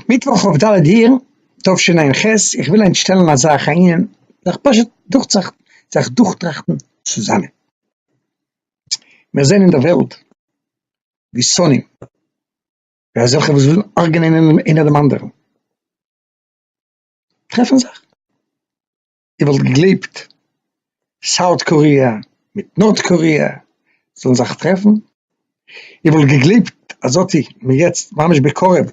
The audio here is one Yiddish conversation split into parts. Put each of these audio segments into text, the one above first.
מיטוואך כ ד אייר תשע ח, איך וויל היינט שטעלן א זאך א ענין, זיך פשוט דורך זיך זיך דורכטראכטן צוזאמען. מיר זעען אין די וועלט ווי שונאים, ווי אזעלכע וואס ווילן הרג'נען איינער דעם אנדערן, טרעפן זיך. איר וואלט געגלייבט סאוט קאריע מיט נארט קאריע זאלן זיך טרעפן? איר וואלט געגלייבט אז אטי מען יעצט ממש בקרוב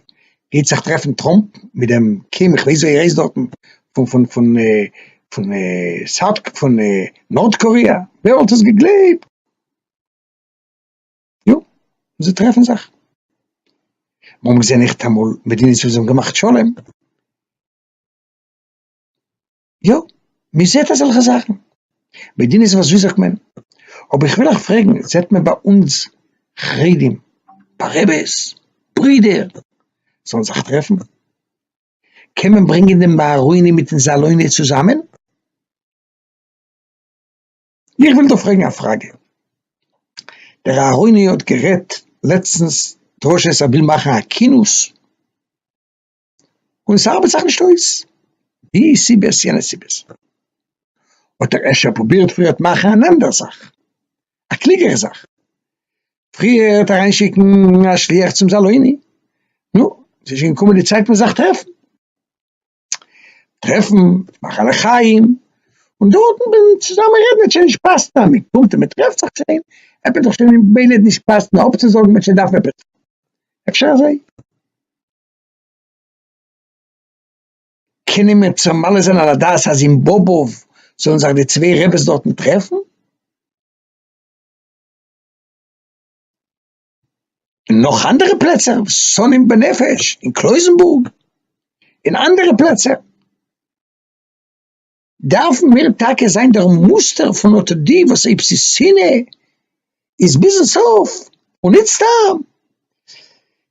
גייט זיך טרעפן טראמפ מיט דעם קים איך ווייס ווער ער הייסט דארטן פון פון פון פון סאוט פון נארט קאריע? ווער וואלט עס געגלייבט? יא זיי טרעפן זיך. מ'האמיר געזען ניכטאמאל מדינות וואס האבן געמאכט שלום. יא, מען זעט אזעלכע זאכן, מדינות וואס ווי זאגט מען, אבער איך וויל אייך פרעגן, זעט מען ביי אונז חרדים, ביי רעבעס, ברידער, זאלן זיך טרעפן? קען מען ברענגען דעם אהרוני מיטן זאלוני צוזאמען? איך וויל דא פרעגן א פראגע, דער אהרוני האט גערעדט לעצטנס דרשות ער וויל מאכן א כינוס, און ס'ארבעט זיך נישט אויס, די סיבות יענע סיבות, האט ער אפשר פרובירט פריער האט מאכן אן אנדערע זאך, א קלוגערע זאך, פריער האט אריין שיקן א שליח צום זאלויני, נו, ס'איז שוין געקומען די צייט פון זיך טרעפן, טרעפן, מאכן א לחיים, און דארטן ווען צוזאמען רעדן האט שוין נישט געפאסט, ניין? מען קומט און מען טרעפט זיך שוין, עפעס האט דאך שוין ממילא נישט געפאסט, נאר אפצוזאגן וועט שוין דארפן עפעס טון, אפשר אזוי? קענען מיר צו מעלה זיין על הדעת אז אין באבוב זאלן זיך די צוויי רעבעס דארטן טרעפן? און נאך אנדערע פלעצער, שונאים בנפש, אין קלויזענבורג, אין אנדערע פלעצער. דארפן מיר טאקע זיין דער מוסטער פון אט די וואס אויב ס'איז שנאה איז ביזן סוף און ניט סתם.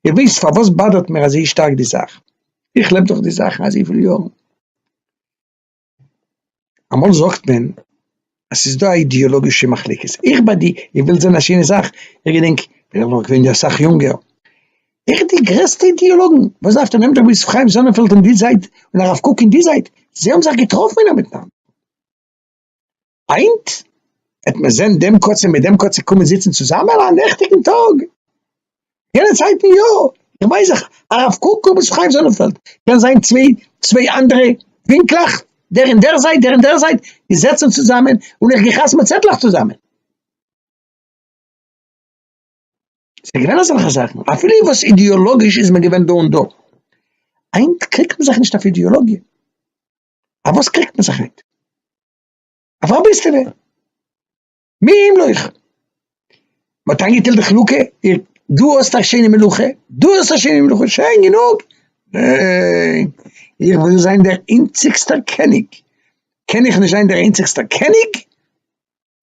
איר ווייסט פארוואס באדערט מיר אזוי שטארק די זאך? איך לעב דורך די זאכן אזויפיל יארן. אמאל זאגט מען אז ס'איז דא א אידעאלאגישע מחלוקת. איך ביי די, איר ווילט זען א שיינע זאך? איך געדענק ווען איך בין געווען אסאך יונגער, איך די גרעסטע אידיאלאגן, וואס דארפט איר נעמען דעם ר' חיים זאנענפעלד אין די זייט און הרב קוק אין די זייט, זיי האבן זיך געטראפן אינעם מיטנאנד. היינט העט מען זען דעם קצה מיט דעם קצה קומען זיצן צוזאמען א נעכטיגן טאג, יענע צייטן יא, איך ווייס זיך הרב קוק און ר' חיים זאנענפעלד קען זיין צוויי צוויי אנדערע ווינקלעך, דער אין דער זייט דער אין דער זייט, איר זעצט זיך צוזאמען און איך גיי חתמ'ן צעטלעך צוזאמען. ס'איז געווען אזעלכע זאכן, אפילו וואס אידעאלאגיש איז מען געווען דא און דא. היינט קריגט מען זיך נישט אויף אידעאלאגיע. אויף וואס קריגט מען זיך היינט? אויף א ביסלע. מי אם לא איך. מ'האט איינגעטיילט די חלוקה, דו האסט א שיינע מלוכה, דו האסט א שיינע מלוכה, שיין גענוג. ניין, איך וויל זיין דער איינציגסטער קעניג. קען איך נישט זיין דער איינציגסטער קעניג?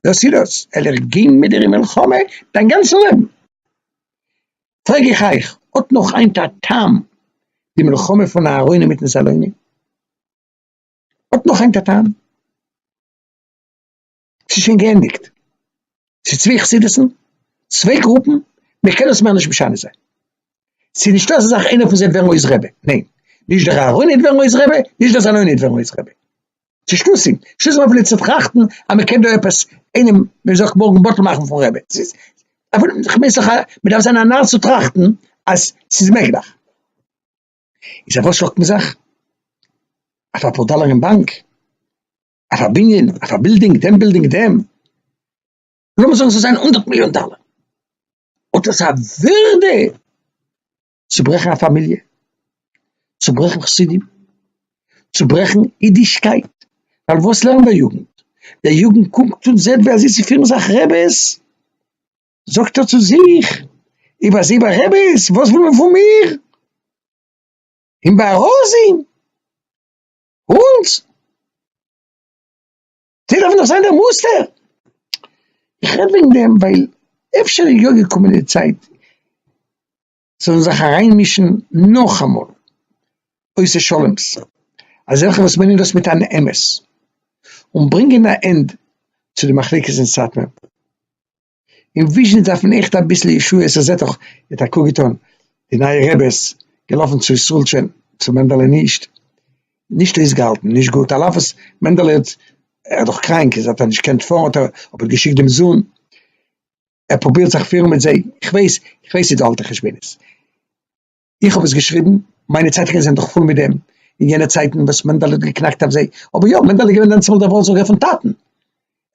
דאס איז דאס, עלעך גיין מיט דיר אין מלחמה דיין גאנצע לעבן, פרעג איך אייך, האט נאך היינט א טעם די מלחמה פון אהרונים מיטן סלונים? האט נאך היינט א טעם? ס'איז שוין געענדיגט, ס'איז צוויי חסידות'ן, צוויי גרופן, מען קען דאס מער נישט משנה זיין, ס'איז נישטא אזא זאך איינער פון זיי וועט ווערן אויס רבי, ניין, נישט דער אהרוני וועט ווערן אויס רבי, נישט דער סלוני וועט ווערן אויס רבי. צו שטותים, שטותים אויף ליצנות טראכטן אז מען קען דא עפעס איינעם ווי מען זאגט מארגן בטל מאכן פון רעבען, ס'איז אויף איך מיין ס'איז א מען דארף זיין א נאר צו טראכטן אז ס'איז מעגליך, איז אויף וואס שלאגט מען זיך? אויף אפאר דאלער אין באנק? אויף א בנין? אויף א בילדינג? דעם בילדינג? דעם? לאמיר זאגן ס'זאל זיין הונדערט מיליאן דאלער, האט עס א ווערדע? צוברעכן א פאמיליע, צוברעכן חסידים, צוברעכן אידישקייט, ווייל וואס לערנט דער יוגנט? דער יוגנט קוקט און זעט ווי אזוי ס'פירן זיך רעבעס, זאגט ער צו זיך, איב אזוי ביי רעבעס, וואס וויל מען פון מיר? און ביי רזין? אונז? די דארפן דאך זיין דער מוסטער, איך רעד וועגן דעם ווייל אפשר איז יא געקומען די צייט זיי זאלן זיך אריינמישן נאכאמאל, עושה שלום'ס, אזעלכע וואס מיינען דאס מיט אן אמת, און ברענגען א ענד צו די מחלוקת אין סאטמער. און וויזשניץ דארף מען עכט אביסל ישועות, איך זעה דאך ער האט א קוק געטון די נייע רעבעס, געלאפן צו ישראלטשען, צו מענדעלע נישט, נישט אויסגעהאלטן, נישט גוט, על אף וואס מענדעלע האט, ער איז דאך קראנק איז האט ער נישט געקענט פארן האט ער אבער געשיקט דעם זון, ער פרובירט זיך פירן מיט זיי, איך ווייס, איך ווייס ס'איז דא אלטע חשבונות. איך האב עס געשריבן, מיינע צייטונגען זענען דאך פול מיט דעם, אין יענע צייטן וואס מענדעלע האט געקנאקט אויף זיי, אבער יא, מענדעלע איז געווען דענצומאל דער ווארטזאגער פון טאטן, ער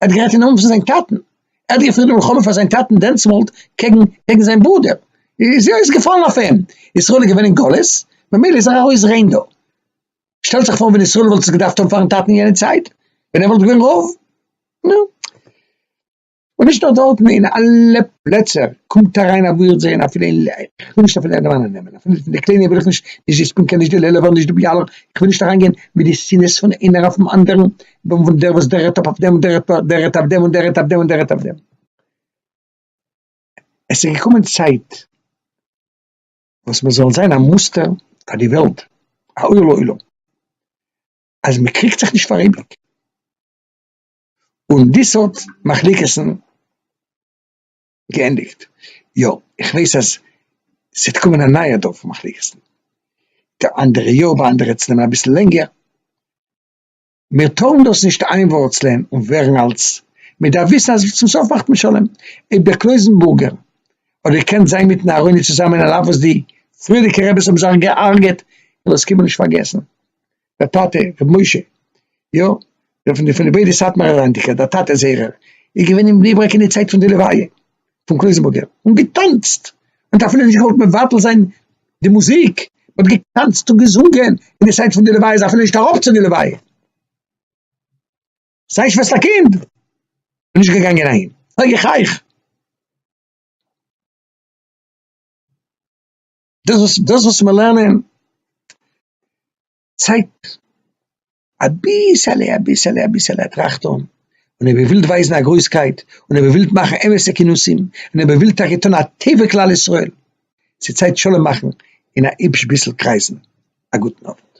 האט גערעדט אין נאמען פון זיין טאטן, ער האט געפירט די מלחמה פאר זיין טאטן דענצומאל קעגן קעגן זיין ברודער, איז יא, איז געפאלן אויף אים, ישראל איז געווען אין גלות, ממילא איז ער ארויס ריין דא. שטעלט זיך פאר ווען ישראל וואלט עס געדארפט האבן פארן טאטן אין יענע צייט, ווען ער וואלט געווען רוב, נו. און נישט נאר דארטן, אין אלע פלעצער קומט אריין א ווירד זעהן אפילו אין ל ע, איך וויל נישט אפילו ענדערמאנען נעמען, אפילו פון די קליינע וויל איך נישט, נישט די ספינקא נישט די לעלובער נישט די ביאלא, איך וויל נישט אריין גיין מיט די שנאת פון איינער אויפן אנדערן, פון דער וואס דער רעדט אויף דעם און דער רעדט דער רעדט אויף דעם און דער רעדט אויף דעם און דער רעדט אויף דעם. עס איז געקומען צייט וואס מען זאל זיין א מוסטער פאר די וועלט, א אור לעולם, אז מען קריגט זיך נישט פאר אייביג. און די סארט מחלוקת'ן געענדיגט. יא, איך ווייס אז ס'וועט קומען א נייע דור פון מחלוקת'ן, די אנדערע יא, ביי אנדערע וועט עס נעמען אביסל לענגער, מיר טארן דאס נישט איינווארצלען און ווערן אלס, מען דארף וויסן אז צום סוף מאכט מען שלום, אויב דער קלויזענבורגער האט געקענט זיין מיטן אהרוני צוזאמען על אף וואס די פריערדיגע רעבעס האבן זיך גע'הרג'עט, איך וועל עס קיינמאל נישט פארגעסן. דער טאטע רבי משה, יא, דער פון די פון די ביידע סאטמארע אריינדיקער, דער טאטע זערער, איז געווען אין בני ברק אין די צייט פון די לוויה פון קלויזענבורגער, און געטאנצט, מ'האט אפילו נישט געוואלט מבטל זיין די מוזיק, מ'האט געטאנצט און געזונגען אין די צייט פון די לוויה, איז אפילו נישט אראפ צו די לוויה, זיין שוועסטער קינד איז נישט געגאנגען אהין, פרעג איך אייך. דאס וואס דאס וואס מיר לערנען צייגט אביסעלע אביסעלע אביסעלע א טראכט אן, און אויב איר ווילט ווייזן א גרויסקייט, און אויב איר ווילט מאכן אמת'ע כינוסים, און אויב איר ווילט טאקע טון א טובה כלל ישראל, ס'צייט שלום מאכן אין א היבש ביסל קרייזן, א גוטן אווענט.